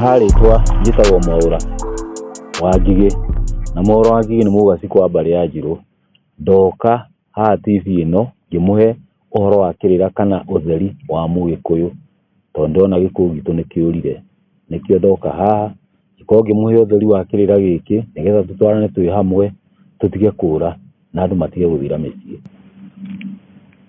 harĩtwa njĩtagwo mwaũra wa ngigĩ na mwaũra wa ngigĩ nĩ mũgaci kwa mbarĩ ya njirũ ndoka haha TV ĩno ngĩmũhe ũhoro wa kĩrĩra kana ũtheri wa mũgĩkũyũ, tondũ ndĩrona gĩkũyũ gitũ nĩ kĩũrire, nĩkĩo ndoka haha ngĩkorwo ngĩmũhe ũtheri wa kĩrĩra gĩkĩ, nĩgetha tũtwarane twĩ hamwe tũtige kũũra na andũ matige gũthira mĩciĩ.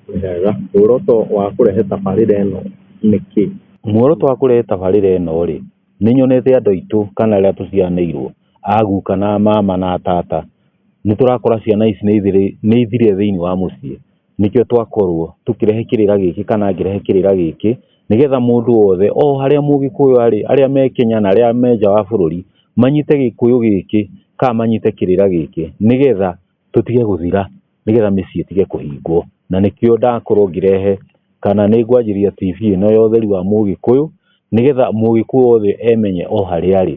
Wega, muoroto wa kũrehe tabarĩra ĩno nĩ kĩĩ? Muoroto wa kũrehe tabarĩra ĩno rĩ, nĩ nyonete andũ aitũ kana arĩa tũciaranĩirwo a guka na mama na tata, nĩ tũrakora ciana ici nĩ ithire thĩinĩ wa mũciĩ, nĩkĩo twakorwo tũkĩrehe kĩrĩra gĩkĩ kana ngĩrehe kĩrĩra gĩkĩ, nĩgetha mũndũ wothe o harĩa mũgĩkũyũ arĩ, arĩa me Kenya na arĩa me nja wa bũrũri, manyite gĩkũyũ gĩkĩ kana manyite kĩrĩra gĩkĩ, nĩgetha tũtige gũthira, nĩgetha mĩciĩ ĩtige kũhingwo, na nĩkĩo ndakorwo ngĩrehe kana nĩ ngwanjĩrĩria TV ĩno ya ũtheri wa mũgĩkũyũ, nĩgetha mũgĩkũyũ wothe emenye o harĩa arĩ.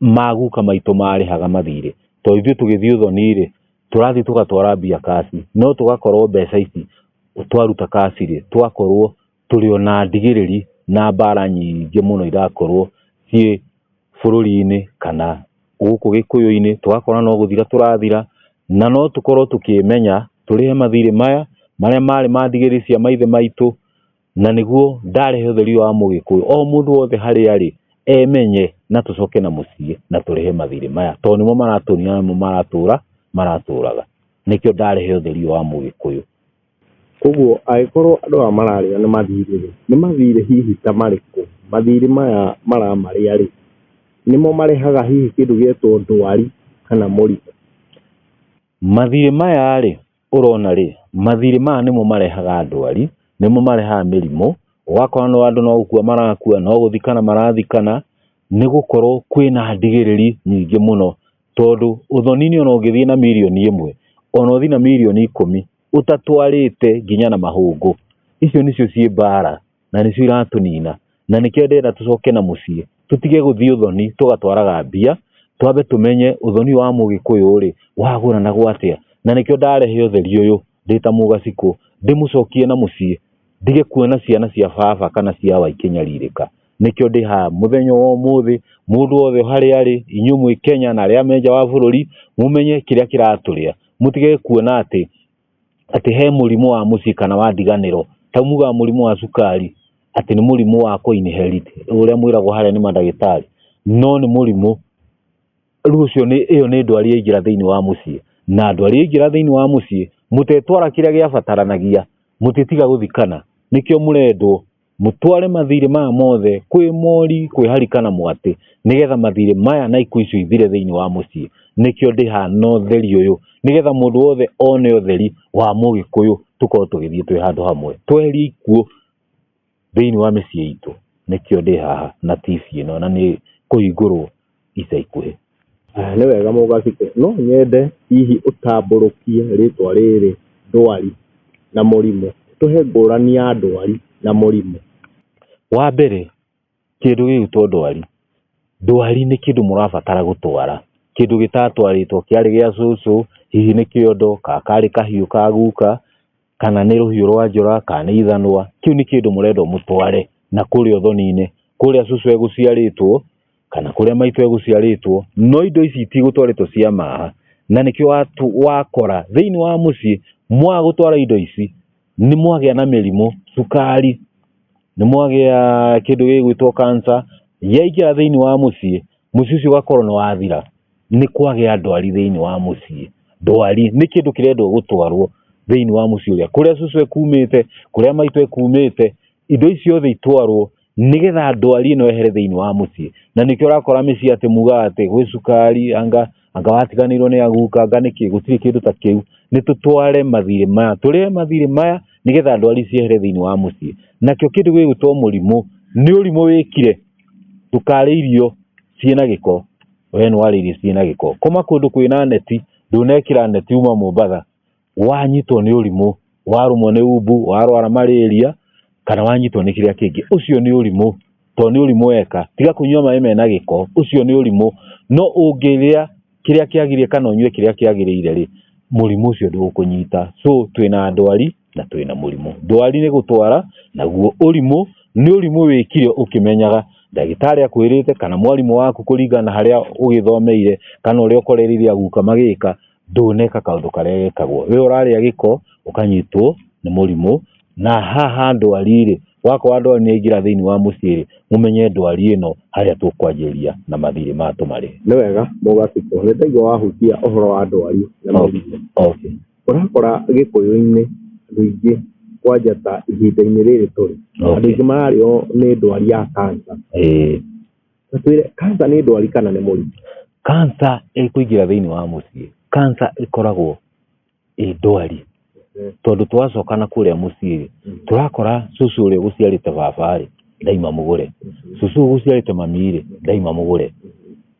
maguka maitũ marĩhaga mathirĩ to ithuĩ tũgĩthiĩ ũthoni-rĩ tũrathiĩ tũgatwara mbia kaci no tũgakorwo mbeca ici twaruta kaci-rĩ tũgakorwo tũrĩ ona ndigĩrĩri na mbara nyingĩ mũno irakorwo ciĩ bũrũri-inĩ kana gũkũ gĩkũyũ-inĩ tũgakora no gũthira tũrathira na no tũkorwo tũkĩmenya tũrĩhe mathirĩ maya marĩa marĩ ma ndigĩrĩri cia maithe maitũ. na niguo ndarehe ũtheri wa mũgĩkũyũ o mũndũ wothe harĩa arĩ emenye na tũcoke na mũciĩ na tũrehe mathirĩ maya tondũ nĩmo maratũnia namo maratũra maratũraga nĩkĩo ndarehe ũtheri wa mũgĩkũyũ koguo agĩkorwo andũ aya mararĩa nĩ mathirĩ rĩ nĩ mathirĩ hihi ta marĩkũ mathirĩ maya maramarĩa rĩ nĩmo marehaga hihi kĩndũ gĩtagwo ndwari kana mũrimũ mathirĩ maya rĩ ũrona rĩ, mathirĩ maya nĩmo marehaga ndwari, nĩmo marehaga mĩrimũ, ũgakora no andũ no gũkua marakua, no gũthikana marathikana, nĩ gũkorwo kwĩna ndigĩrĩri nyingĩ mũno, tondũ ũthoni-inĩ ona ũngĩthiĩ na mirioni ĩmwe, ona ũthiĩ na mirioni ikũmi, ũtatwarĩte nginya na mahũngũ, icio nĩcio ciĩ mbara na nĩcio iratũnina na nĩkĩo ndĩrenda tũcoke na mũciĩ tũtige gũthiĩ ũthoni tũgatwaraga mbia twambe tũmenye ũthoni wa mũgĩkũyũ rĩ wagũranagwo atĩa na nĩkĩo ndarehe ũtheri ũyũ ndĩ ta mũgacikũ ndĩmũcokie na mũciĩ ndige kuona ciana cia baba kana cia wa ikĩnyarirĩka nĩkĩo ndĩ haha mũthenya wa ũmũthĩ mũndũ wothe harĩa arĩ inyuĩ mwĩ Kenya na arĩa me nja wa bũrũri mũmenye kĩrĩa kĩratũrĩa mũtige kuona atĩ atĩ he mũrimũ wa mũciĩ kana wa ndiganĩro ta mugaga mũrimũ wa cukari atĩ nĩ mũrimũ wa kũinherit ũrĩa mwĩragwo harĩa nĩ mandagĩtarĩ no nĩ mũrimũ rĩu ũcio nĩ ĩyo nĩ ndwari yaingĩra thĩinĩ wa mũciĩ na ndwari yaingĩra thĩinĩ wa mũciĩ mũtetwara kĩrĩa gĩabataranagia mũtĩtiga gũthikana nĩkĩo mũrendwo mũtware mathirĩ maya mothe kwĩ mori kwĩ harika na mwatĩ nĩgetha mathirĩ maya na ikuũ icio ithire thĩinĩ wa mũciĩ nĩkĩo ndĩhana ũtheri ũyũ nĩgetha mũndũ wothe one ũtheri wa mũgĩkũyũ tũkorwo tũgĩthiĩ twĩ handũ hamwe tweherie ikuũ thĩinĩ wa mĩciĩ itũ nĩkĩo ndĩ haha na TV ĩno na nĩ kũhingũrwo ica ikuhĩ. Nĩ wega mũgacite, no nyende hihi ũtambũrũkie rĩtwa rĩrĩ ndwari na mũrimũ, tũhe ngũrani ya ndwari na mũrimũ. Wa mbere kĩndũ gĩgwĩtwo ndwari, ndwari nĩ kĩndũ mũrabatara gũtwara, kĩndũ gĩtatwarĩtwo kĩarĩ gĩa cũcũ, hihi nĩ kĩondo, kana karĩ kahiũ ka guka. kana nĩ rũhiũ rwa njora kana nĩ ithanwa kĩu nĩ kĩndũ mũrendwo mũtware na kũrĩa ũthoni-inĩ kũrĩa cucu egũciarĩtwo kana kũrĩa maitũ egũciarĩtwo no indo ici itigũtwarĩtwo cia maha na nĩkĩo wakora thĩinĩ wa mũciĩ mwaga gũtwara indo ici nĩ mwagĩa na mĩrimũ cukari nĩ mwagĩa kĩndũ gĩgwĩtwo cancer yaingĩra thĩinĩ wa mũciĩ mũciĩ ũcio ũgakorwo nĩ wathira. nĩ kwagĩa ndwari thĩinĩ wa mũciĩ ndwari nĩ kĩndũ kĩrendwo gũtwarwo thĩinĩ wa mũciĩ ũrĩa kũrĩa cũcũ ekumĩte kũrĩa maitũ ekumĩte indo icio othe itwarwo nĩgetha ndwari ĩno ehere thĩinĩ wa mũciĩ na nĩkĩo ũrakora mĩciĩ atĩ mugaga atĩ gwĩ cukari anga anga watiganĩirwo nĩ aguka anga nĩkĩ gũtirĩ kĩndũ ta kĩu nĩ tũtware mathirĩ maya tũrĩe mathirĩ maya nĩgetha ndwari ciehere thĩinĩ wa mũciĩ nakĩo kĩndũ gĩgwĩtwo mũrimũ nĩ ũrimũ wĩkire ndũkarĩ irio ciĩna gĩko we nĩ warĩirie ciĩ na gĩko koma kũndũ kwĩna neti ndũnekĩra neti uma Mombasa wanyitwo nĩ ũrimũ warũmwo nĩ umbu warwara marĩria kana wanyitwo nĩ kĩrĩa kĩngĩ ũcio nĩ ũrimũ tondũ nĩ ũrimũ weka tiga kũnyua maĩ mena gĩko ũcio nĩ ũrimũ no ũngĩrĩa kĩrĩa kĩagĩrĩire kana ũnyue kĩrĩa kĩagĩrĩire rĩ mũrimũ ũcio ndũgũkũnyita so twĩna ndwari na twĩ na mũrimũ. Ndwari nĩ gũtwara, naguo ũrimũ nĩ ũrimũ wĩkire ũkĩmenyaga ndagĩtarĩ akwĩrĩte kana mwarimũ waku kũringana harĩa ũgĩthomeire kana ũrĩa ũkorereire aguka magĩka, ndũneka kaũndũ karĩa gekagwo. We ũrarĩa gĩko ũkanyitwo nĩ mũrimũ, na haha ndwari-rĩ, wakorwo ndwari nĩ yaingĩra thĩinĩ wa mũciĩ-rĩ, mũmenye ndwari ĩno harĩa tũkwanjĩrĩria na mathirĩ maya tũmarĩhe. Nĩ wega mũgakĩkwo, nĩ ndaigua wahutia ũhoro wa ndwari na mũrimũ. Okay. Ũrakora gĩkũyũ-inĩ andũ aingĩ kwanja ta ihinda-inĩ rĩrĩ tũrĩ, andũ Okay. aingĩ mararĩo nĩ ndwari ya kansa. Ĩĩ. Na twĩre, kansa nĩ ndwari kana nĩ mũrimũ? Kansa ĩkũingĩra thĩinĩ wa mũciĩ. Kansa ĩkoragwo ĩ ndwari. Mhm. Tondũ twacoka na kũrĩa mũciĩ-rĩ, Mhm. tũrakora cũcũ ũrĩa ũgũciarĩte baba-rĩ, ndaima mũgũre. Cũcũ ũyũ ũgũciarĩte mami-rĩ, ndaima mũgũre.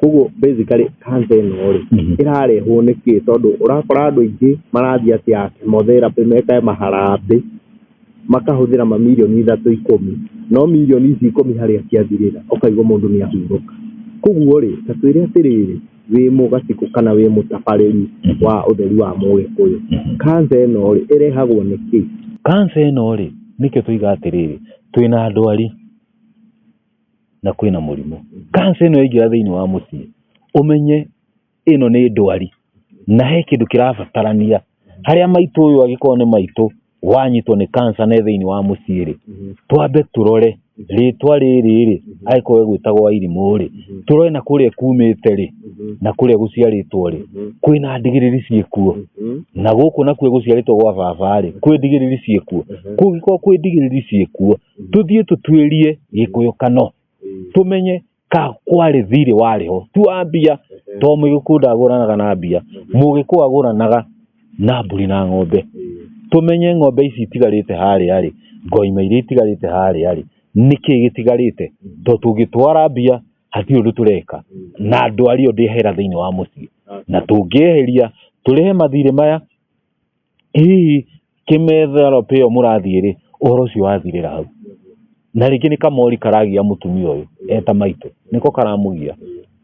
Koguo basically cancer ĩno rĩ, ĩrarehwo nĩ kĩĩ? Tondũ ũrakora andũ aingĩ marathiĩ atĩ a chemotherapy meke maharambĩ, makahũthĩra mamirioni ithatũ ikũmi, no mirioni ici ikũmi harĩa ciathirĩra ũkaigua mũndũ nĩ ahurũka. Koguo rĩ, ta twĩre atĩrĩrĩ, wĩ mũgacikũ kana wĩ mũtabarĩri wa ũtheri wa mũgĩkũyũ, cancer ĩno rĩ, ĩrehagwo nĩ kĩĩ? Cancer ĩno rĩ, nĩkĩo tũiga atĩrĩrĩ, twĩna ndwari. na kwĩna mũrimũ. Cancer ĩno yaingĩra thĩinĩ wa mũciĩ, ũmenye ĩno nĩ ndwari na he kĩndũ kĩrabatarania. Harĩa maitũ ũyũ angĩkorwo nĩ maitũ wanyitwo nĩ cancer na e thĩinĩ wa mũciĩ rĩ, twambe tũrore rĩtwa rĩrĩ rĩ, angĩkorwo egwĩtagwo Wairimũ rĩ, tũrore na kũrĩa kumĩte rĩ, na kũrĩa gũciarĩtwo rĩ, kwĩna ndigiriri ciĩkuo. Na gũkũ nakuo gũciarĩtwo gwa baba rĩ, kwĩ ndigiriri ciĩkuo. Kũngĩkorwo kwĩ ndigiriri ciĩkuo. tũthiĩ tũtuĩrie gĩkũyũkano tũmenye ka kwarĩ thirĩ warĩ ho tu wa mbia to mũgĩkũyũ ndagũranaga na mbia mũgĩkũyũ agũranaga na mbũri na ng'ombe tũmenye ng'ombe ici itigarĩte harĩa rĩ ngoima iria itigarĩte harĩa rĩ nĩkĩ gĩtigarĩte to tũngĩtwara mbia hatirĩ ũndũ tũreka na ndwari ĩyo ndĩhera thĩinĩ wa mũciĩ na tũngĩeheria tũrĩhe mathirĩ maya Hihi kĩmethero pĩo mũrathiĩ rĩ, ũhoro ũcio wathirĩra hau. Na rĩngĩ nĩ kamori karagia mũtumia ũyũ eta maitũ, nĩko karamũgia.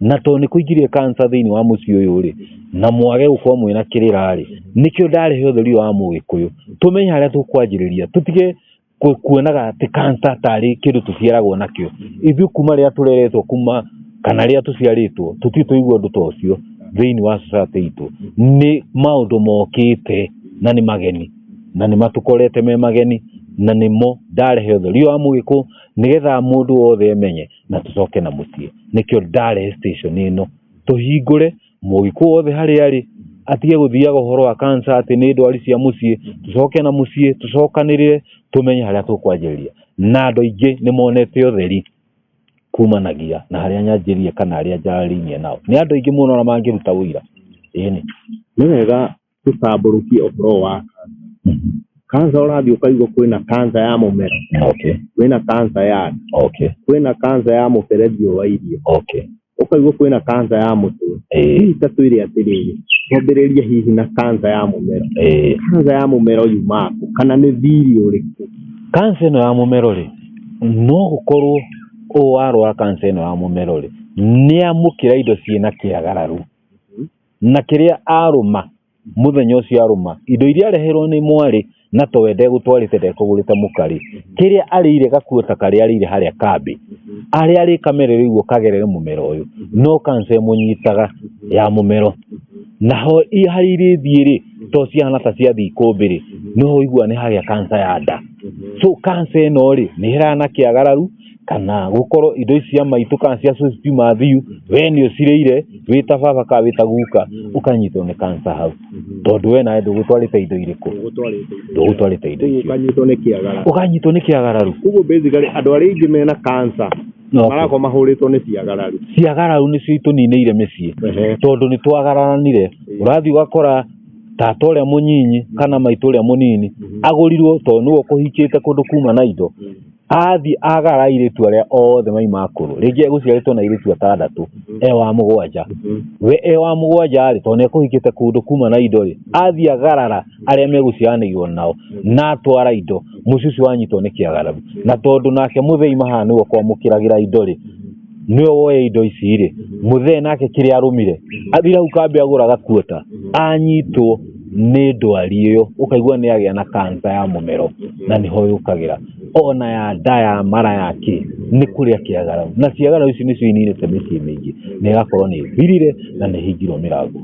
Na tondũ nĩ kũingĩrire kanca thĩinĩ wa mũciĩ ũyũ rĩ, na mwage gũkorwo mwĩna kĩrĩra rĩ, nĩkĩo ndarehe ũtheri ũyũ wa mũgĩkũyũ. Tũmenye harĩa tũkwanjĩrĩria, tũtige kũ- kuonaga atĩ kansa tarĩ kĩndũ tũciaragwo nakĩo ithuĩ kuma rĩrĩa tũreretwo kuma kana rĩrĩa tũciarĩtwo tũtirĩ tũigua ũndũ ta ũcio thĩinĩ wa society itũ nĩ maũndũ mokĩte na nĩ mageni na nĩ matũkorete me mageni na nĩmo ndarehe ũtheri wa mũgĩkũ nĩgetha mũndũ wothe emenye na tũcoke na mũciĩ nĩkĩo ndarehe station ĩno tũhingũre mũgĩkũ wothe harĩa arĩ atige gũthiaga ũhoro wa kansa atĩ nĩ ndwari cia mũciĩ tũcoke na mũciĩ tũcokanĩrĩre tũmenye harĩa tũkwanjĩrĩria na andũ aingĩ nĩ monete ũtheri kumanagia na harĩa nyanjĩrie kana arĩa njarĩinie nao nĩ andũ aingĩ mũno na mangĩruta ũira ĩni nĩ wega tũtambũrũkie ũhoro wa kansa ũrathiĩ ũkaigua kwĩna kansa ya mũmero okay kwĩna kansa ya nda okay kwĩna kansa ya mũberethi ũyũ wa irio okay ũkaigua kwĩna kansa ya mũtwe eh hihi ta twĩre atĩrĩrĩ twambĩrĩrie hihi na kansa ya mũmero eh kansa ya mũmero yumaga kũ kana nĩ thiri ũrĩkũ kansa ĩno ya mũmero rĩ no gũkorwo ũyũ warwara kansa ĩno ya mũmero rĩ nĩ amũkĩra indo ciĩna kĩagararu Na kĩrĩa arũma, mũthenya ũcio arũma, indo iria areherwo nĩ mwarĩ, na to we ndegũtwarĩte ndekũgũrĩte mũkarĩ, kĩrĩa arĩire gakuo ta karĩa arĩire harĩa kambĩ, arĩa arĩ kamere rĩu ũkagerere mũmero ũyũ, no kanca ĩmũnyitaga ya mũmero. Naho harĩa irĩthiĩ-rĩ, to cihana ta ciathiĩ ikũmbĩ-rĩ, no ũiguaga nĩ hagĩa kanca ya nda. So kanca ĩno-rĩ, nĩ ĩrehana kĩagararu. kana gũkorwo indo ici cia maitũ kana cia cũcũ ti mathiu we nĩ ũcirĩire wĩ ta baba kana wĩ ta guka ũkanyitwo nĩ kansa hau tondũ we nawe ndũgũtwarĩte indo irĩkũ ũgũtwarĩte ndũgũtwarĩte indo icio ũkanyitwo nĩ kĩagara ũkanyitwo nĩ kĩagararu koguo basically andũ arĩa aingĩ mena kansa No. marakorwo mahũrĩtwo nĩ ciagararu ciagararu nĩcio itũninĩire mĩciĩ Ehe. tondũ nĩ twagaranire ũrathiĩ ũgakora tata ũrĩa mũnyinyi kana maitũ ũrĩa mũnini agũrirwo tondũ nĩwe ũkũhikĩte kũndũ kuma na indo athiĩ agara airĩtu arĩa othe maima akũrũ rĩngĩ egũciarĩtwo na airĩtu atandatũ e wa mũgwanja we e wa mũgwanja rĩ tondũ nĩekũhikĩte kũndũ kuma na indo rĩ athiĩ agarara arĩa megũciaranĩirwo nao na atwara indo mũciĩ ũcio wanyitwo nĩ kĩagararu na tondũ nake mũthei mahaa nĩwe ũkwamũkĩragĩra indo rĩ nĩwe woya indo ici rĩ mũthee nake kĩrĩa arũmire athire hau kambĩ agũra gakuota anyitwo nĩ ndwari ĩyo ũkaigua nĩ agĩa na kansa ya mũmero na nĩho yũkagĩra ona ya nda ya mara yake nĩ kũrĩa kĩagarau na ciagarau ici nĩcio ininĩte mĩciĩ mĩingĩ na ĩgakorwo nĩ thirire na nĩ hingirwo mĩrango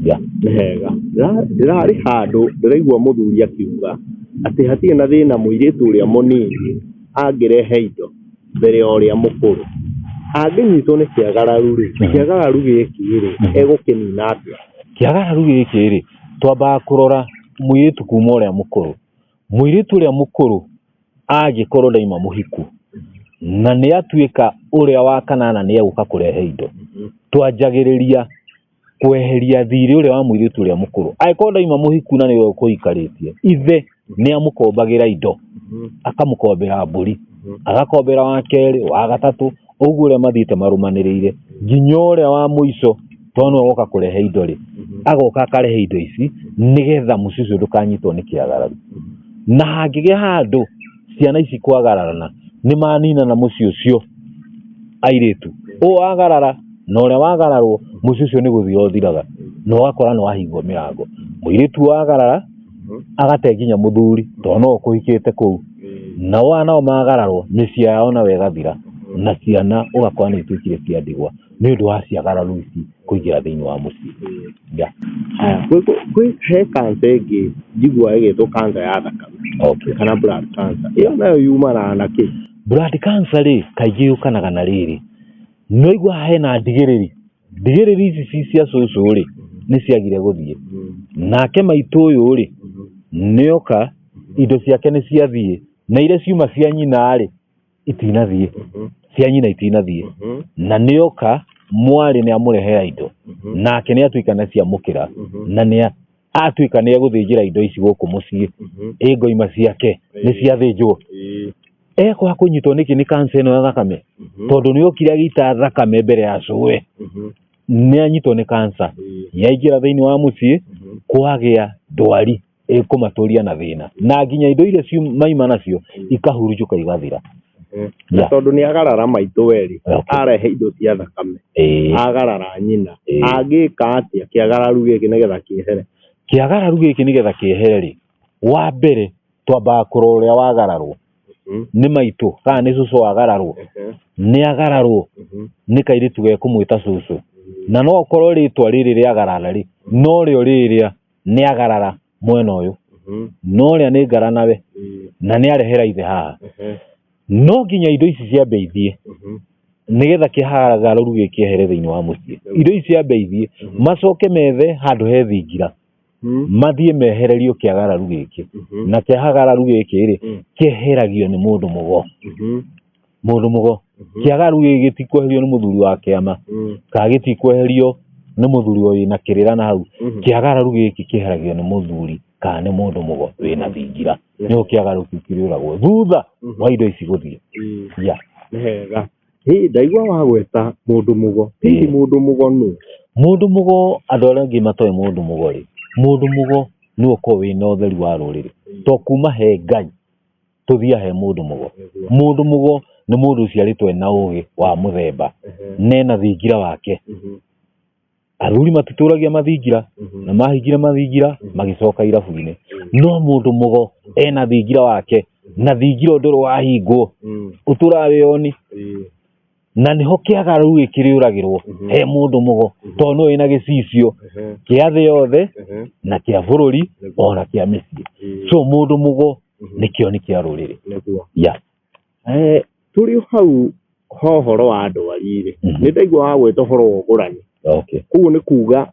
ya nĩ hega Ndĩra- ndĩrarĩ handũ ndĩraigua mũthuri akiuga atĩ hatirĩ na thĩna mũirĩtu ũrĩa mũnini angĩrehe indo mbere ya ũrĩa mũkũrũ, angĩnyitwo nĩ kĩagararu rĩ, kĩagararu gĩkĩ rĩ, egũkĩnina atĩa? Kĩagararu gĩkĩ rĩ, twambaga kũrora mũirĩtu kuma ũrĩa mũkũrũ. Mũirĩtu ũrĩa mũkũrũ angĩkorwo ndaima mũhiku, na nĩatuĩka ũrĩa wa kanana nĩegũka kũrehe indo, twanjagĩrĩria. kweheria thiirĩ ũrĩa wa mũirĩtu ũrĩa mũkũrũ angĩkorwo ndaima mũhiku na nĩwe ũkũikarĩtie ithe nĩ amũkombagĩra indo mhm. akamũkombera mbũri mhm. agakombera wa kerĩ wa gatatũ ũguo ũrĩa mathiĩte marũmanĩrĩire nginya ũrĩa wa mũico tondũ nĩwe woka kũrehe indo rĩ mhm. agoka akarehe indo ici nĩgetha mũciĩ ũcio ndũkanyitwo nĩ kĩagararu na hangĩgĩa handũ ciana ici kwagararana nĩ maninana mũciĩ ũcio airĩtu ũũ wagarara na ũrĩa wagararwo mũciĩ ũcio nĩ gũthira ũthiraga na ũgakora nĩ wahingwo mĩrango mũirĩtu wagarara agate nginya mũthuri tondũ no ũkũhikĩte kũu nao anao magararwo mĩciĩ yao nayo ĩgathira na ciana ũgakora nĩ ituĩkire cia ndigwa nĩ ũndũ wa ciagararo ici kũingĩra thĩinĩ wa mũciĩ. He kanca ĩngĩ njiguaga ĩgĩtwo kanca ya thakame kana blood cancer. Ĩyo nayo yumanaga na kĩ? Blood cancer rĩ, kaingĩ yũkanaga na rĩrĩ, nĩ waiguaga hena ndigĩrĩri, ndigĩrĩri ici ci cia cũcũ rĩ, nĩ ciagire gũthiĩ. Nake maitũ ũyũ rĩ, nĩ oka, indo ciake nĩ ciathiĩ, na iria ciuma cia nyina rĩ, itinathiĩ Mhm. cia nyina itinathiĩ Mhm. na nĩoka mwarĩ nĩ amũrehera indo Mhm. nake nĩ atuĩka nĩ ciamũkĩra Mhm. na nĩ atuĩka nĩ egũthĩnjĩra indo ici gũkũ mũciĩ Mhm. ĩ ngoima ciake nĩ ciathĩnjwo Ĩĩ. ekwa kũnyitwo nĩkĩ nĩ kanca ĩno ya thakame Mhm. tondũ nĩ okire agĩita thakame mbere ya cũe Mhm. nĩ anyitwo nĩ kanca Ĩĩ. yaingĩra thĩinĩ wa mũciĩ Mhm. kwagĩa ndwari ĩkũmatũria na thĩna na nginya indo iria ciu- maima nacio ikahurunjũka igathira na Yeah. tondũ nĩ agarara maitũ werĩ Okay. arehe indo cia thakame Ĩĩ. agarara nyina Ĩĩ. angĩka atĩa kĩagararu gĩkĩ nĩgetha kĩehere kĩagararu gĩkĩ nĩgetha kĩehere-rĩ wa mbere twambaga kũrora ũrĩa wagararwo Mhm, nĩ maitũ kana nĩ cũcũ wagararwo mhm, nĩ agararwo mhm. nĩ kairĩtu gekũmwĩta cũcũ na no okorwo rĩtwa rĩrĩ rĩagarara-rĩ no rĩo rĩrĩa nĩ agarara mwena ũyũ Mhm. na ũrĩa nĩ ngara nawe Mm. na nĩ arehera ithe haha Mhm. no nginya indo ici ciambe ithiĩ Mhm. nĩgetha kĩhagarũru gĩkĩ kĩehere thĩinĩ wa mũciĩ indo ici ciambe ithiĩ Mhm. macoke methe handũ he thingira Mm. mathiĩ mehererio kĩagararu gĩkĩ Mhm. na kĩagararu gĩkĩ rĩ Mm. kĩeheragio nĩ mũndũ mũgo Mhm. mũndũ mũgo Mhm. kĩagaru gĩkĩ gĩtikweherio nĩ mũthuri wa kĩama Mm. kana gĩtikweherio nĩ mũthuri ũyũ na kĩrĩra na hau Mhm. kĩagararu gĩkĩ kĩheragio nĩ mũthuri kana nĩ mũndũ mũgo wĩna thingira Yes. nĩho kĩagaru kĩu kĩrĩũragwo thutha Mhm. wa indo ici gũthiĩ Mm. ya Nĩ hega Hĩ, ndaigua wagweta mũndũ mũgo hihi Ĩĩ. mũndũ mũgo nũ mũndũ mũgo andũ arĩa angĩ matoĩ mũndũ mũgo rĩ mũndũ mũgo nĩ ũkorwo wĩna ũtheri wa rũrĩrĩ to kuma he ngai tũthia he mũndũ mũgo mũndũ mũgo nĩ mũndũ ũciarĩtwo ena ũgĩ wa mũthemba nena thingira wake athuri matitũragia mathingira na mahingira mathingira magĩcoka irabu-inĩ no mũndũ mũgo ena thingira wake na thingira ũndũ ũrĩ wahingwo ũtũraga wĩ oni na nĩho kĩaga rĩu gĩ- kĩrĩũragĩrwo Mhm. he mũndũ mũgo Mhm. tondũ nĩwe wĩna gĩcicio Ehe, kĩa thĩ yothe ehe, na kĩa bũrũri nĩguo. ona kĩa mĩciĩ Ĩĩ, so mũndũ mũgo mhm, nĩkĩo nĩ kĩa rũrĩrĩ nĩguo. ya Eh, tũrĩ o hau ha ũhoro wa andũ arĩ-rĩ Mhm. nĩ ndaigua wa gwĩta ũhoro wa ũgũrani okay koguo nĩ kuga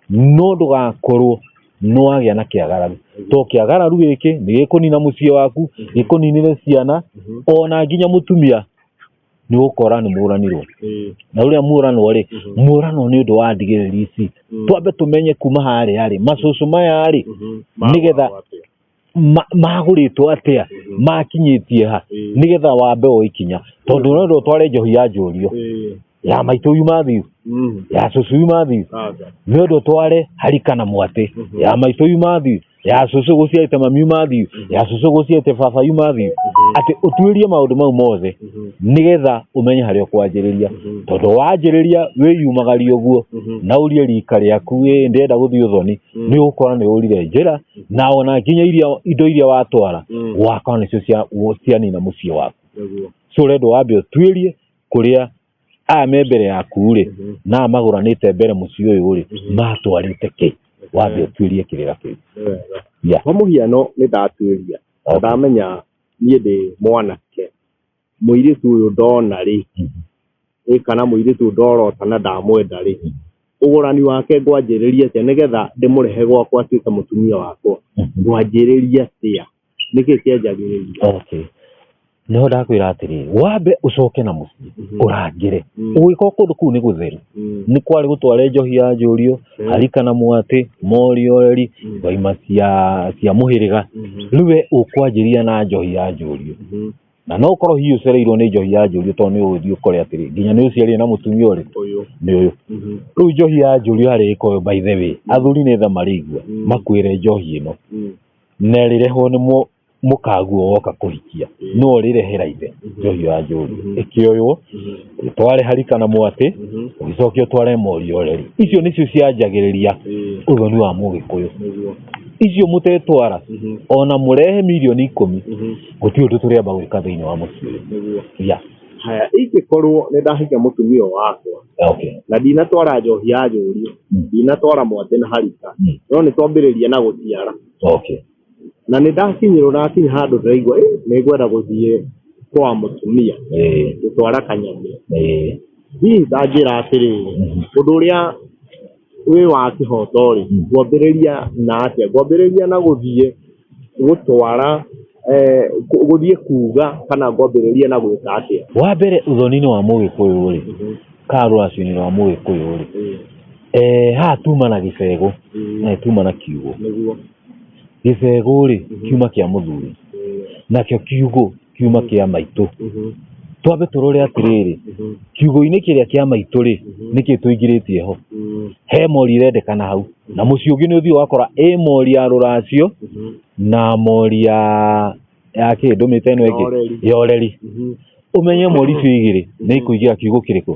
no ndũgakorwo nĩwagĩa na kĩagararu to kĩagararu gĩkĩ nĩ gĩkũnina mũciĩ waku gĩkũninĩre ciana ona nginya mũtumia nĩ ũkora nĩ mũranirwo na ũrĩa mũranwo rĩ mũranwo nĩ ũndũ wa ndigĩrĩri ici twambe tũmenye kuma harĩa rĩ macũcũ maya rĩ nĩgetha ma- magũrĩtwo atĩa makinyĩtie ha nĩgetha wambe o ikinya tondũ ũrenda ũtware njohi ya njũrio ya maitũ yuma thiu ya cũcũ yuma thiu nĩ ũndũ tware harika na mwatĩ ya maitũ yuma thiu ya cũcũ gũciarĩte mami yuma thiu ya cũcũ gũciarĩte baba yuma thiu atĩ ũtuĩrie maũndũ mau mothe nĩgetha ũmenye harĩa ũkwanjĩrĩria tondũ wanjĩrĩria wĩyumagaria ũguo na ũrie rika rĩaku ĩ ndĩrenda gũthiĩ ũthoni nĩ ũgũkora nĩ ũrire njĩra na ona nginya iria indo iria watwara Mm. gwakwa nĩcio cia- wo- cianina mũciĩ waku Nĩguo. so ũrendwo wambe ũtuĩrie kũrĩa aya me mbere yaku rĩ Mhm. na magũranĩte mbere mũciĩ ũyũ rĩ Mhm. matwarĩte kĩ wambe ũtuĩrie kĩrĩra kĩu Nĩ wega. Yeah. kwa mũhiano nĩ ndatuĩria Okay. ndamenya niĩ ndĩ mwanake mũirĩtu ũyũ ndona rĩ ĩ kana mũirĩtu ũyũ ndorota na ndamwenda rĩ ũgũrani wake ngwanjĩrĩria atĩa nĩgetha ndĩmũrehe gwakwa atuĩke mũtumia wakwa ngwanjĩrĩria atĩa nĩkĩ kĩanjagĩrĩria okay nĩho ndakwĩra atĩrĩ wambe ũcoke na mũciĩ Mhm. ũrangĩre Mm. ũgĩkorwo kũndũ kũu nĩ gũtheru Mm, nĩ kwarĩ gũtware njohi ya njũriũ Mm. harika na mwatĩ moriori Mm. twaima cia cia mũhĩrĩga mhm, rĩu we ũkwanjĩria na njohi ya njũriũ mhm. na no korwo hihi ũcereirwo nĩ njohi ya njũriũ tondũ nĩ ũgũthiĩ ũkore atĩrĩ nginya nĩ ũciarire na mũtumia ũrĩ ũyũ nĩ ũyũ Mhm. rĩu njohi ya njũriũ harĩ ĩka ũyũ by the way athuri nĩ tha marĩigua Mm. makwĩre njohi ĩno Mm. na ĩrĩrehwo nĩ mũ- mũkaguo woka kũhikia Mm. no ũrĩrehera ithe Mhm. njohi ya njũriũ Mhm. ĩkĩoywo Mhm. ũtware harika na mwatĩ Mhm. ũgĩcoke ũtware morio ũreri icio nĩcio cianjagĩrĩria Ĩĩ, ũthoni wa mũgĩkũyũ nĩguo. icio mũtetwara Mhm. ona mũrehe mirioni ikũmi Mhm. gũtirĩ ũndũ tũrĩamba gwĩka thĩinĩ wa mũciĩ ũyũ nĩguo ya haya ingĩkorwo nĩ ndahika mũtumia ũyũ wakwa okay na ndinatwara njohi ya njũri Mm. ndinatwara mwatĩ na harika Mm. no nĩ twambĩrĩria na gũciara okay na nĩ ndakinyĩrwo na akinya handũ ndĩraigua "Eh, nĩ ngwenda gũthiĩ kwa mũtumia eh gũtwara kanyamĩ eh hihi ndanjĩra atĩrĩrĩ Mhm. ũndũ ũrĩa wĩ wa kĩhoto rĩ Mm. ngwambĩrĩria na atĩa ngwambĩrĩria na gũthiĩ gũtwara eh, kũ- gũthiĩ kuga kana ngwambĩrĩria na gwĩka atĩa wa mbere ũthoni-inĩ wa mũgĩkũyũ rĩ ka rũracio-inĩ rwa mũgĩkũyũ rĩ eh, haha tuma na gĩcegũ na tuma na kiugo nĩguo gĩcegũ rĩ kiuma kĩa mũthuri nakĩo kiugũ kiuma kĩa maitũ twambe tũrore atĩrĩrĩ kiugũ-inĩ kĩrĩa kĩa maitũ rĩ nĩkĩ tũingĩrĩtie ho he mori ĩrendekana hau na mũciĩ ũngĩ nĩ ũthiĩ ũgakora ĩ mori ya rũracio na mori ya ya kĩ ndũmĩte ĩno ĩngĩ ya ũreri ũmenye mori icio igĩrĩ nĩ ikũingĩra kiugũ kĩrĩkũ.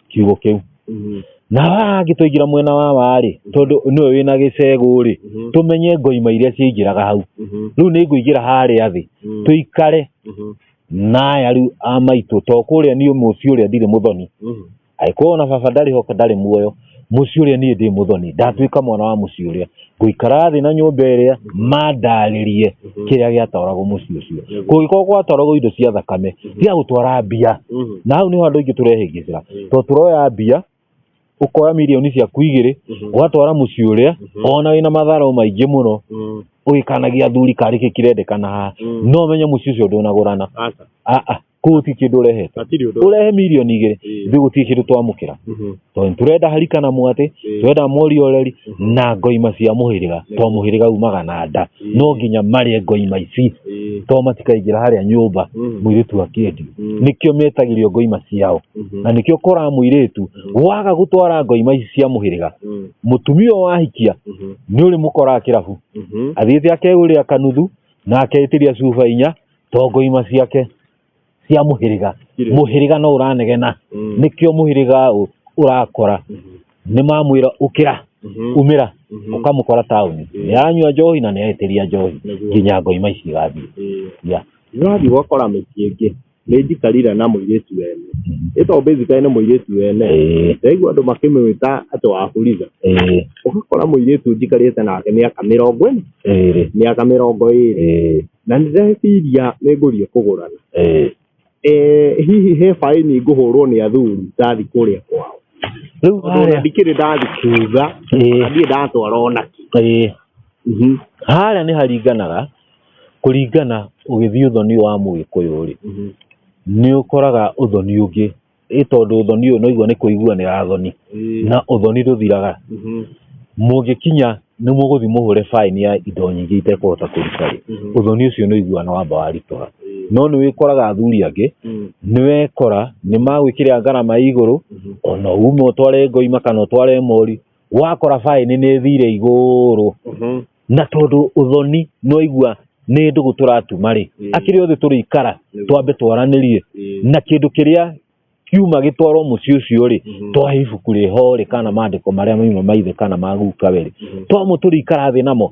kiugo kĩu Mhm. na haha angĩtũingĩra mwena wa warĩ tondũ nĩwe wĩna gĩcegũ rĩ Mhm. tũmenye ngoima iria ciaingĩraga hau Mhm. rĩu nĩ ngũingĩra harĩa thĩ Mhm. tũikare Mhm. na ayaru a maitũ to kũrĩa niĩ mũciĩ ũrĩa ndirĩ mũthoni Mhm. angĩkorwo ona baba ndarĩ ho ndarĩ muoyo mũciĩ ũrĩa niĩ ndĩ mũthoni ndatuĩka mwana wa mũciĩ ũrĩa ngũikara thĩ na nyũmba ĩrĩa mandarĩrie kĩrĩa gĩatwaragwo mũciĩ ũcio kũngĩkorwo gwatwaragwo indo cia thakame cia gũtwara mbia na hau nĩho andũ aingĩ tũrehĩngĩcĩra tondũ tũroya mbia ũkoya mirioni ciaku igĩrĩ ũgatwara mũciĩ ũrĩa ona wĩna matharũ maingĩ mũno ũgĩkanagia athuri karĩ kĩ kĩrendekana haha no ũmenye mũciĩ ũcio ndũnagũrana Aca. aa kũguti kĩndũ ũrehete hatirĩ ũndũ ũrehe mirioni igĩrĩ Ĩĩ. ithuĩ gũtirĩ kĩndũ twamũkĩra Mhm. tondũ nĩ tũrenda harika na mwatĩ Ĩĩ. tũrenda morioreri na ngoima cia mũhĩrĩga tondũ mũhĩrĩga umaga na nda Ĩĩ. no nginya marĩe ngoima ici Ĩĩ. tondũ matikaingĩra harĩa nyũmba Mhm. mũirĩtu akĩendio Mm. nĩkĩo metagĩrio ngoima ciao Mhm. na nĩkĩo koraga mũirĩtu waga gũtwara ngoima ici cia mũhĩrĩga Mm. mũtumia ũyũ wahikia Mhm. nĩ ũrĩmũkoraga kĩrabu Mhm. athiĩte akegũrĩra kanuthu na akeĩtĩria cuba inya tongo ima ciake cia må hä rä ga Irĩ. må hä rä ga no å ranegena Mm. nä kä o må hä rä ga å ra kora nä mamwä ra å kä ra Mhm. umä ra Mhm. å kamå kora taåni Mm. nä aranyua njohi na nä aetä ria njohi Nĩguo. nginya ngoima ici igathiä Ĩĩ. Yeah. Nĩwathi gwakora mĩciĩ ĩngĩ nĩ njikarire na mũirĩtu wene ĩto basically nĩ mũirĩtu wene Ĩĩ, ndaigua andũ makĩmwĩta atĩ wa buriza ĩĩ, ũgakora mũirĩtu njikarĩte nake mĩaka mĩrongo ĩna ĩĩ, mĩaka mĩrongo ĩrĩ ĩĩ. na nĩ ndeciria nĩ ngũthiĩ kũgũrana Eh. Eh, hihi he baĩni ngũhũrwo nĩ athuri ndathi kũrĩa kwao rĩu tondũ ona harĩa ndikĩrĩ ndathi kuga Eh. na ndiĩ ndatwara ona kĩ Eh. Mhm. harĩa nĩ haringanaga kũringana ũgĩthiĩ ũthoni wa mũgĩkũyũ rĩ Mhm. nĩ ũkoraga ũthoni ũngĩ ĩ tondũ ũthoni ũyũ noigua nĩ kũigua nĩ ya thoni Ĩĩ. na ũthoni ndũthiraga Mhm. mũngĩkinya nĩ mũgũthiĩ mũhũre baĩni ya indo nyingĩ itekũhota kũruta rĩ Mhm. ũthoni ũcio nĩ ũiguana wamba waritũha Ĩĩ. no nĩ wĩkoraga athuri angĩ Mm. nĩ wekora nĩ magwĩkĩra ngarama ya igũrũ Mhm. ona ume ũtware ngoima kana ũtware mori wakora baĩni nĩ thire igũrũ Mhm. na tondũ ũthoni nĩwaigua nĩ ndũgũ tũratuma rĩ Mm. akĩrĩ othe tũrĩikara Nĩguo. twambe twaranĩrie Ĩĩ. na kĩndũ kĩrĩa kiuma gĩtwarwo mũciĩ ũcio rĩ Mhm. twahe ibuku rĩho rĩ kana maandĩko marĩa mauma maithe kana magukawe rĩ Mhm. twamũ tũrĩikara thĩ namo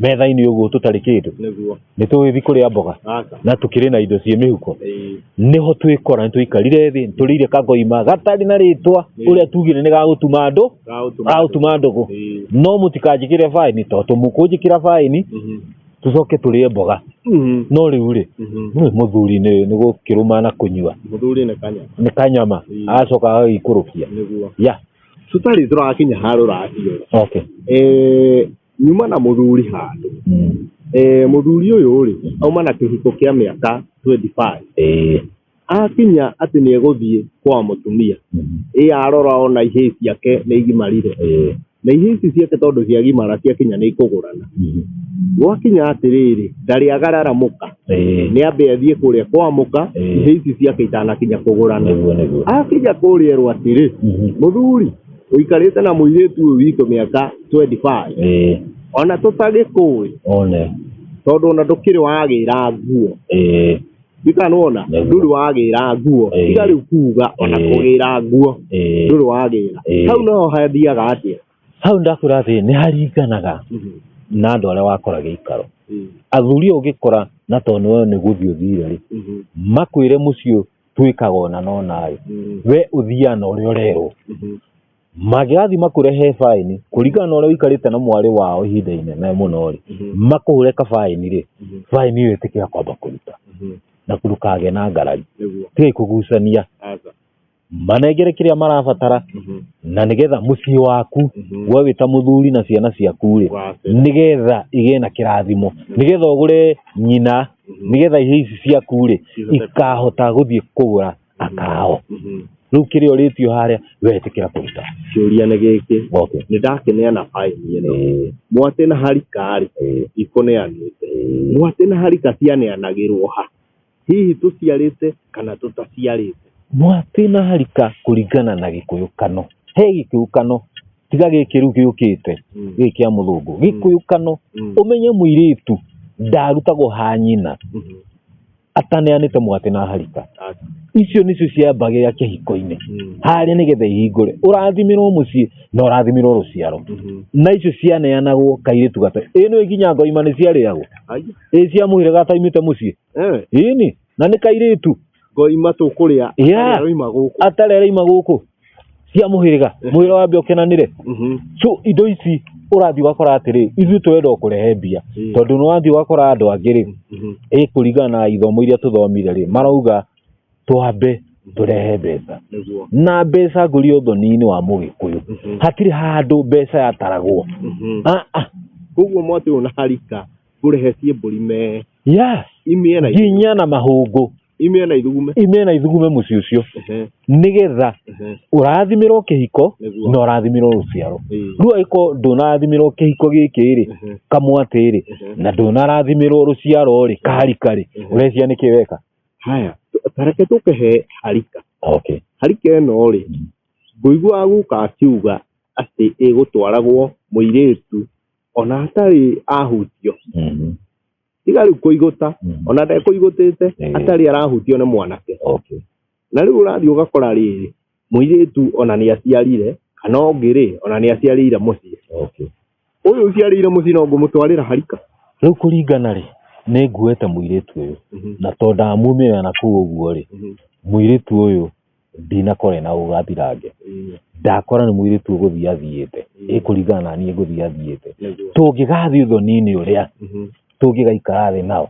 metha-inĩ ũguo tũtarĩ kĩndũ nĩguo nĩ tũgĩthiĩ kũrĩa mboga aca na tũkĩrĩ na indo ciĩ mĩhuko ĩĩ nĩho twĩkora nĩ tũikarire thĩ tũrĩire kagoima gatarĩ na rĩtwa Ĩĩ. ũrĩa tugire nĩ gagũtuma andũ gaũtuma gagũtuma ndũgũ ĩĩ no mũtikanjĩkĩre baĩni tondũ tũmũkũnjĩkĩra baĩni mhm tũcoke tũrĩe mboga mhm no rĩu rĩ mhm nĩ mũthuri nĩ nĩ gũkĩrũma na kũnyua mũthuri nĩ kanya nĩ kanyama Ĩĩ. agacoka agagĩikũrũkia nĩguo ya tũtarĩ tũrakinya harũ racio okay eh nyuma na mũthuri handũ eh, mũthuri ũyũ rĩ auma na kĩhiko kĩa mĩaka 25 Eh, akinya atĩ nĩ egũthiĩ kwa mũtumia mhm, ĩ arora ona ihĩĩ ciake nĩ igimarire eh, na ihĩĩ ici ciake tondũ ciagimara ciakinya nĩ ikũgũrana mhm, gwakinya atĩrĩrĩ ndarĩ agararamuka eh, nĩ ambe athiĩ kũrĩa kwa mũka Eh. ihĩĩ ici ciake itanakinya kũgũrana nĩguo nĩguo akinya kũrĩa rwa atĩrĩ Mhm. mũthuri uikarite na muiritu uyu witå mä aka 25 ĩĩ ona tå tagä kå one tondå ona ndå kä rä wagä ra nguo ĩĩ ndikanwona Nĩguo. ndå rä wagä ra nguo Ĩĩ. tiga rä u kuga ona Ĩĩ. kå gä ra nguo ndå ĩĩ rä wagä ra Ĩĩ. hau no hathiaga atä hau ndakwĩra atĩ nĩ haringanaga na andå arĩa wakora gĩikaro athuri ũngĩkora na tondũ nĩwe nĩ gũthiĩ ũthire rĩ makwĩre mũciĩ twĩkaga ona no naĩ Mm. we ũthiaga na ũrĩa ũrerwo Mhm. mangĩgathiĩ makũrehe baĩni kũringana na ũrĩa ũikarĩte na mwarĩ wao ihinda inene mũno rĩ Mhm. makũhũre kabaĩni rĩ Mhm. baĩni ĩyo ĩtĩkĩra kwamba kũruta Mhm. na ndũkagĩa na ngarari Nĩguo. tigai kũgucania Aca. manengere kĩrĩa marabatara Mhm. na nĩgetha mũciĩ waku Mhm. we wĩta mũthuri na ciana ciaku rĩ Wacĩra. nĩgetha igĩe na kĩrathimo nĩgetha ũgũre nyina nĩgetha ihĩĩ ici ciaku rĩ ikahota gũthiĩ kũgũra akao rĩu kĩrĩa ũrĩtio harĩa wetĩkĩra kũruta kĩũria nĩ gĩkĩ okay. nĩ ndakeneana baini ĩno Eh, mwatĩ na harika rĩ eh, ikũneanĩte eh. mwatĩ na harika cianeanagĩrwo ha hihi tũciarĩte kana tũtaciarĩte mwatĩ na harika kũringana na gĩkũyũkano he gĩkĩũkano tiga gĩkĩ rĩu gĩũkĩte Mm. gĩkĩ kĩa mũthũngũ gĩkũyũkano Mm. ũmenye mũirĩtu ndarutagwo ha nyina Mhm. ataneanĩte mũgate na harika Aca. icio nĩcio ciambagĩrĩra kĩhiko-inĩ Mm. harĩa nĩgetha ihingũre ũrathimirwo mũciĩ na ũrathimirwo rũciaro Mhm. na icio cianeanagwo kairĩtu gata ĩno ĩkinya ngoima nĩ ciarĩagwo Ai. ĩ cia mũhĩrĩga ataimĩte mũciĩ Eh. ĩni na nĩ kairĩtu ngoima tũkũrĩa Yeah. arĩa roima gũkũ atarĩ araima gũkũ cia mũhĩrĩga mũhĩrĩga wa mbia ũkenanĩre Mhm. so indo ici ũrathiĩ ũgakora atĩrĩ ithuĩ tũrenda o kũrehe mbia Mm. tondũ nĩ wathiĩ ũgakora andũ angĩ rĩ Mhm. ĩ kũringana na ithomo iria tũthomire rĩ marauga twambe tũrehe mbeca nĩguo na mbeca ngũria ũthoni-inĩ wa mũgĩkũyũ Mhm. hatirĩ handũ mbeca yataragwo Mhm. Ah, ah, koguo mwatĩ ũyũ na harika kũrehe ciĩ mbũri me yes imĩe na nginya na mahũngũ imĩe na ithugume imĩe na ithugume mũciĩ ũcio Ehe, nĩgetha ehe, ũrathimirwo kĩhiko nĩguo. na ũrathimirwo rũciaro Ĩĩ, rĩu angĩkorwo ndũnarathimirwo kĩhiko gĩkĩ rĩ ehe, kamwatĩ rĩ ehe. na ndũnarathimirwo rũciaro rĩ karika rĩ Mhm. ũreciria nĩkĩ weka haya tareke tũkehe harika okay harika ĩno rĩ ngũigua guka akiuga atĩ ĩgũtwaragwo mũirĩtu ona atarĩ ahutio Mhm. tiga rĩu kũigũta Mm. ona ndekũigũtĩte Eh. atarĩ arahutio nĩ mwanake okay na rĩu ũrathiĩ ũgakora rĩrĩ mũirĩtu ona nĩ aciarire kana ũngĩ rĩ ona nĩ aciarĩire mũciĩ okay ũyũ ũciarĩire mũciĩ no ngũmũtwarĩra harika rĩu kũringana rĩ nĩ nguete mũirĩtu ũyũ na to ndamumĩra na kũu ũguo rĩ mũirĩtu ũyũ ndinakora ĩna ũgathirange ndakora nĩ mũirĩtu ũgũthiĩ athiĩte ĩkũringana na niĩ ngũthiĩ athiĩte tũngĩgathiĩ ũthoni-inĩ ũrĩa tũngĩgaikara thĩ nao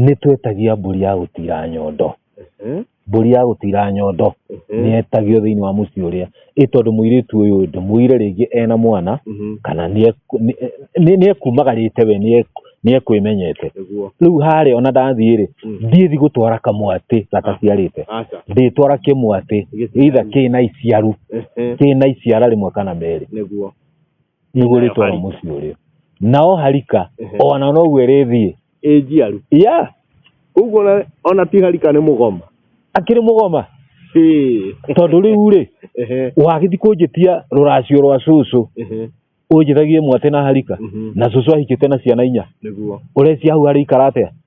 nĩ twetagia mbũri ya gũtira nyondo mbũri ya gũtira nyondo nĩ yetagio thĩinĩ wa mũciĩ ũrĩa ĩ tondũ mũirĩtu ũyũ ndĩmũire rĩngĩ ena mwana Mhm. kana nĩ ekumagarĩte we nĩ ekwĩmenyete Nĩguo. rĩu harĩa ona ndathiĩ rĩ Mm. ndiĩthi gũtwara kamwatĩ gataciarĩte Aca. ndĩtwara kĩmwatĩ Gĩciaru. either kĩna iciaru Ehe. kĩna iciara rĩmwe kana merĩ Nĩguo. igũrĩtwo na Harika. mũciĩ ũrĩa nao harika Ehe. ona noguo ĩrĩthiĩ ĩ njiaru ya ũguo ona- ona ti harika nĩ mũgoma akĩrĩ mũgoma Ĩ. tondũ rĩu rĩ Ehe, wagĩthi kũnjĩtia rũracio rwa cũcũ ehe, ũnjĩthagie mwatĩ na harika mhm, na cũcũ ahikĩte na ciana inya nĩguo ũrecia hau harĩ ikara atĩa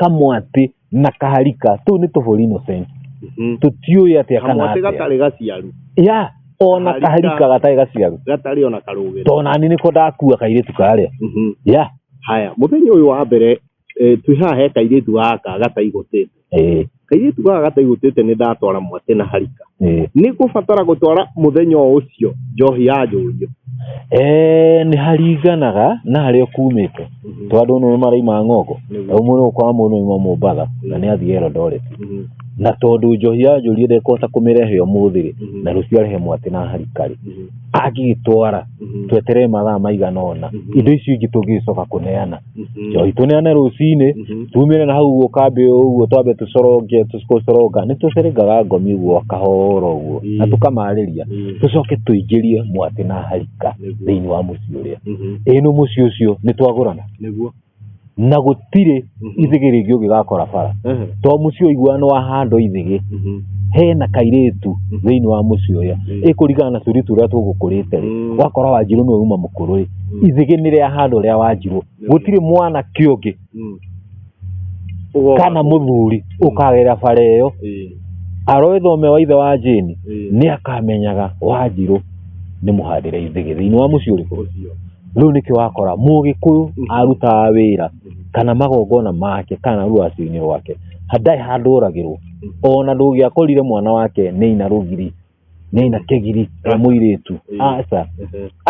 kamwatĩ na kaharika tũu nĩ tũbũri innocent Mhm. tũtiũĩ atĩa kana kamwatĩ atĩa gatarĩ gaciaru ya ona Kaharika. kaharika gatarĩ gaciaru gatarĩ ona karũgĩro tona nĩ nĩko ndakua kairĩtu karĩa Mhm. ya haya mũthenya ũyũ wa mbere eh, twĩ haha he kairĩtu gaka gataigũtĩte ĩĩ kairĩtu gaka gataigũtĩte nĩ ndatwara mwatĩ na harika Eh, nĩ gũbatara gũtwara mũthenya o ũcio njohi ya njũrio eh, nĩ haringanaga na harĩa kumĩte tondũ nĩ maraima ng'ongo Nĩguo. ũmwe nĩ ũkora mũndũ nĩ mombatha na nĩ athiĩ elondoreti Mhm, na tondũ njohi ya njũrie ndekũhota kũmĩrehe ũmũthĩ-rĩ Mhm. na rũciũ arehe mwatĩ na harikari mhm, angĩgĩtwara mhm. tweterere mathaa maigana ũna Mhm. indo icio ingĩ tũngĩgĩcoka kũneana Mhm. njohi tũneane rũcinĩ Mhm. tumĩre na hau guo kambĩ ũguo twambe tũcoronge tũcoronga nĩ tũcerengaga ngomi guo kahora ũguo na Mm. tũkamarĩria Mm. tũcoke tũingĩrie mwatĩ na harika Nĩguo. thĩinĩ wa mũciĩ ũrĩa Mhm. ĩno mũciĩ ũcio nĩ twagũrana nĩguo na gũtirĩ Mhm. ithigĩ rĩngĩ ũngĩgakora bara Ehe. to mũciĩ ũiguano wa handũ ithigĩ Mhm. hena kairĩtu Mhm. thĩinĩ wa mũciĩ ũrĩa Mm. ĩkũringana na tũirĩtu ũrĩa tũgũkũrĩte Mm. wakora wanjirũ nĩwe uma mũkũrũ ithigĩ nĩ rĩa handũ rĩa wanjirwo gũtirĩ mwana kĩũngĩ kana mũthuri ũkagera bara ĩyo aroe thome wa ithe wa jĩni nĩ akamenyaga wanjirũ nĩ mũhandĩre ithigĩ thĩinĩ wa mũciĩ ũrĩkũ rĩu nĩkĩ wakora mũgĩkũyũ arutaga wĩra kana magongona make kana rũacio-inĩ rwake ndarĩ handũ oragĩrwo ona ndũngĩakorire mwana wake nĩ aina rũgiri nĩ aina kĩgiri wa mũirĩtu aca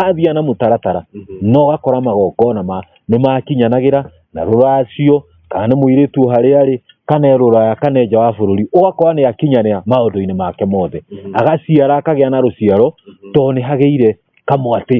athiĩ na mũtaratara no ũgakora magongona ma nĩ makinyanagĩra na rũracio kana nĩ mũirĩtu harĩa arĩ kana e rũraya kana e nja wa bũrũri ũgakora nĩ akinyanĩra maũndũ-inĩ make mothe agaciara akagĩa na rũciaro tondũ nĩ hagĩire kamwatĩ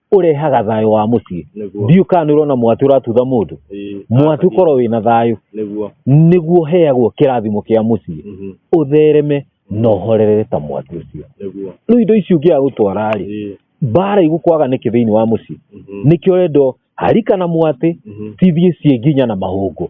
urehaga thayo wa mucii ndiu kana ni urona mwatu uratutha mundu mwatu korwo wina thayo niguo heagwo kirathimo kia mucii mhm. uthereme na uhorerere ta mwatu ucio riu indo ici ungiaga gutwara ri mbara igukwaga niki thiini wa mucii mhm. nikio rendo harika na mwati mhm. cithie cie nginya na mahungu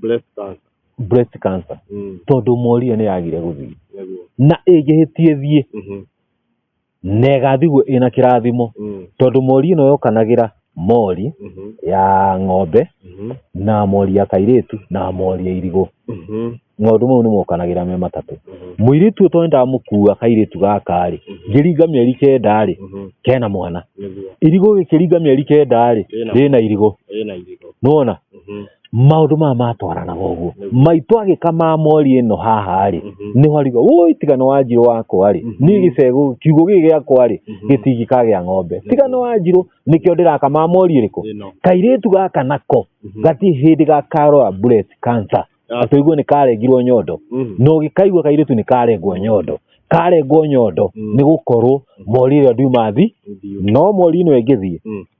breast cancer breast cancer mm. tondå morio nä yagire gå thiä nĩguo na ä ngä hä tie thiä mhm na ä gathiguo ä na kä rathimo mm tondå mori ä no yokanagä ra mori mhm ya ng'ombe mhm na mori ya kairä tu na mori ya irigå mhm maũndũ mau nĩ mokanagĩra me matatũ mhm mũirĩtu ũyũ tondũ ndamũkua kairĩtu gaka-rĩ Mhm. ngĩringa mĩeri kenda-rĩ mhm kena mwana nĩguo irigũ gĩkĩringa mĩeri kenda-rĩ Rĩna. rĩna irigũ ĩna irigũ nĩwona mhm maundu maya matwaranaga ũguo Nĩguo. maitũ agĩkamaa mori ĩno haha rĩ Mhm. nĩho ariga woi tigana wa njirũ wakwa rĩ Mhm. niĩ gĩcegũ kiugo gĩkĩ gĩakwa rĩ Mhm. gĩtingi kagĩa ng'ombe tigana wa njirũ nĩkĩo ndĩrakamaa mori ĩrĩkũ Ĩno. kairĩtu gaka nako Mhm. gati hĩndĩ gakarora breast cancer Ah. atũigua nĩ karengirwo nyondo Mhm. no gĩkaigua kairĩtu nĩ karengwo nyondo karengwo nyondo Mm. nĩ gũkorwo mori ĩrĩa ndiuma thi Ndiũ. no mori ĩno ĩngĩthiĩ Mm.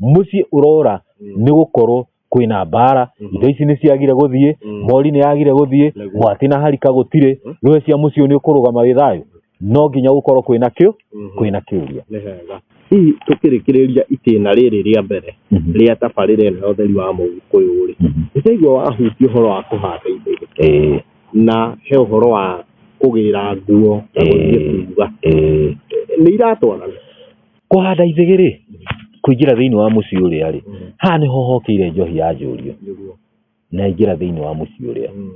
mũciĩ ũrora Mm. nĩ gũkorwo kwĩna mbara Mhm. indo ici nĩ ciagire gũthiĩ Mm. mori nĩ yagire gũthiĩ Nĩguo. mwatĩ na harika gũtirĩ Mhm. rũĩ cia mũciĩ ũyũ nĩ ũkũrũgama wĩ thayũ no nginya gũkorwo kwĩna kĩũ Mhm. kwĩna kĩũria nĩ hega hihi tũkĩrĩkĩrĩria itĩna rĩrĩ rĩa mbere Mhm. rĩa tabarĩra ĩno ya ũtheri wa mũgĩkũyũ rĩ Mhm. nĩtaigua wahutia ũhoro wa kũhanda indo iria Ĩĩ, na he ũhoro wa kũgĩra nguo na gũthiĩ Ĩĩ. kuga ĩĩ. nĩ iratwarana kũhanda ithĩgĩ rĩ kũingĩra thĩinĩ wa mũciĩ ũrĩa rĩ haha nĩho hokĩire njohi ya njũrio Nĩguo. na ingĩra thĩinĩ wa mũciĩ ũrĩa Mm.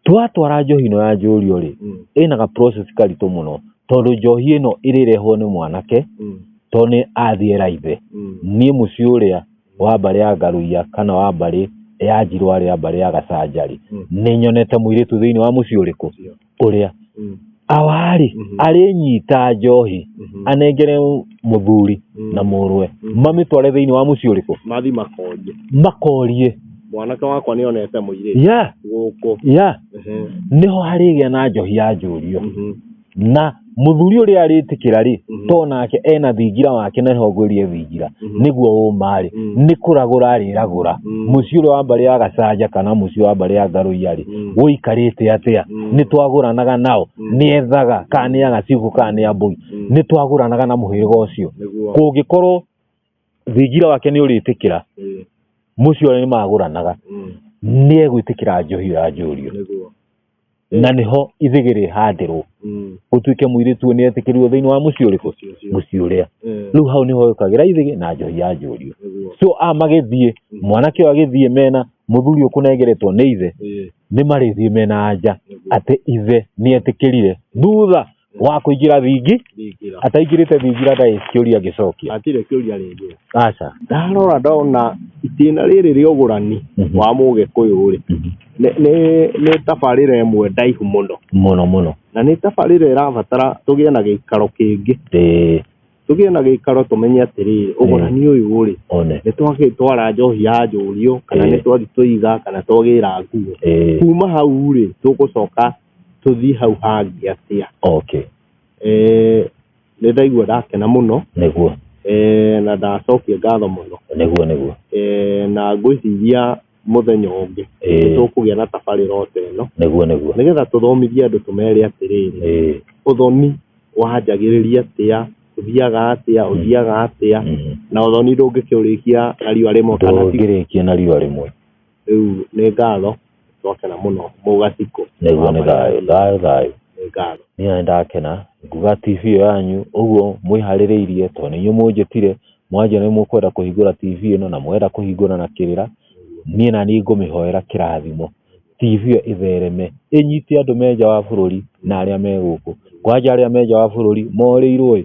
twatwara njohi ĩno ya njũrio rĩ Mm. ĩna ga process karitũ mũno tondũ njohi ĩno ĩrĩrehwo nĩ mwanake Mm. tondũ nĩ athiĩ raithe Mm. niĩ mũciĩ ũrĩa wa mbarĩ ya ngaruia kana wa mbarĩ ya njirwa rĩa mbarĩ ya gacanjarĩ Mm. nĩ nyonete mũirĩtu thĩinĩ wa mũciĩ ũrĩkũ Ndio. ũrĩa Mm. awarĩ Mhm. arĩnyita njohi Mhm. anengere mũthuri Mm. na mũrũwe Mhm. mamĩtware thĩinĩ wa mũciĩ ũrĩkũ mathi makonje makorie mwanake wakwa nä onete må irä ya gå kå ya nĩho harĩgĩa na njohi ya njũrio na mũthuri ũrĩa arĩtĩkĩra rĩ Mhm. to nake ena thingira wake na ehongorie thingira Mhm. nĩguo ũmarĩ Mhm. nĩ kũragũra arĩragũra Mhm. mũciĩ ũrĩa wa mbarĩ ya gacanja kana mũciĩ wa mbarĩ ya ngarũiarĩ Mhm. ũikarĩte atĩa Mhm. nĩ twagũranaga nao Mhm. nĩ ethaga kana nĩ agacigo kana nĩ ambũi Mhm. nĩ twagũranaga na mũhĩrĩga ũcio nĩguo kũngĩkorwo thingira wake nĩ ũrĩtĩkĩra ĩĩ, mũciĩ ũrĩa nĩmagũranaga mm, nĩ egwĩtĩkĩra njohi ya njũrio nĩguo na nĩho ithĩgĩ rĩhandĩrwo Mm, gũtuĩke mũirĩtu ũyũ nĩetĩkĩrirwo thĩinĩ wa mũciĩ ũrĩkũ ũcio, ũcio. mũciĩ ũrĩa Ĩĩ, rĩu hau nĩho yũkagĩra ithĩgĩ na njohi ya njũrio nĩguo so a magĩthiĩ mwanake ũyũ agĩthiĩ mena mũthuri ũyũ kũnengeretwo nĩ ithe Ĩĩ, nĩ marĩthiĩ mena anja nĩguo atĩ ithe nĩetĩkĩrire thutha wa kũingĩra thingi ndingĩra ataingĩrĩte thingira ndarĩ kĩũria ngĩcokia atirĩ kĩũria rĩngĩ aca ndarora ndona itĩna rĩrĩ rĩa ũgũrani Mhm. wa mũgĩkũyũ rĩ Mhm. nĩ- nĩ- nĩ tabarĩra ĩmwe ndaihu mũno mũno mũno na nĩ tabarĩra ĩrabatara tũgĩe na gĩikaro kĩngĩ Ĩĩ, tũgĩe na gĩikaro tũmenye atĩrĩrĩ ũgũrani ũyũ rĩ one nĩ twagĩtwara njohi ya njũriũ kana Ĩĩ. nĩ twathi tũiga kana twagĩra nguo Ĩĩ. kuma hau rĩ tũgũcoka tũthiĩ hau hangĩ atĩa okay eh nĩ ndaigua ndakena mũno nĩguo eh na ndacokia ngatho mũno nĩguo nĩguo eh na ngwĩciria mũthenya ũngĩ nĩ tũkũgĩa na tabarĩra ota ĩno nĩguo nĩguo nĩgetha tũthomithie andũ tũmere atĩrĩrĩ ũthoni wanjagĩrĩria atĩa ũthiaga atĩa ũthiaga atĩa na ũthoni ndũngĩkĩũrĩkia na riũa rĩmwe ndũngĩrĩkia na riũa rĩmwe. rĩu nĩ ngatho twakena mũno mũgatikũ Nĩguo nĩ thayũ, thayũ, thayũ. nĩ ngatho Niĩ nĩ ndakena nguga TV ĩyo yanyu ũguo mwĩharĩrĩirie tondũ nĩ inyuĩ mũnjĩtire mwanjia nĩ mũkwenda kũhingũra TV ĩno na mwenda kũhingũra na kĩrĩra. Niĩ na niĩ ngũmĩhoera kĩrathimo. TV ĩyo ĩthereme ĩnyite andũ me nja wa bũrũri na arĩa me gũkũ. Kwanja arĩa me nja wa bũrũri morĩirwo ĩ,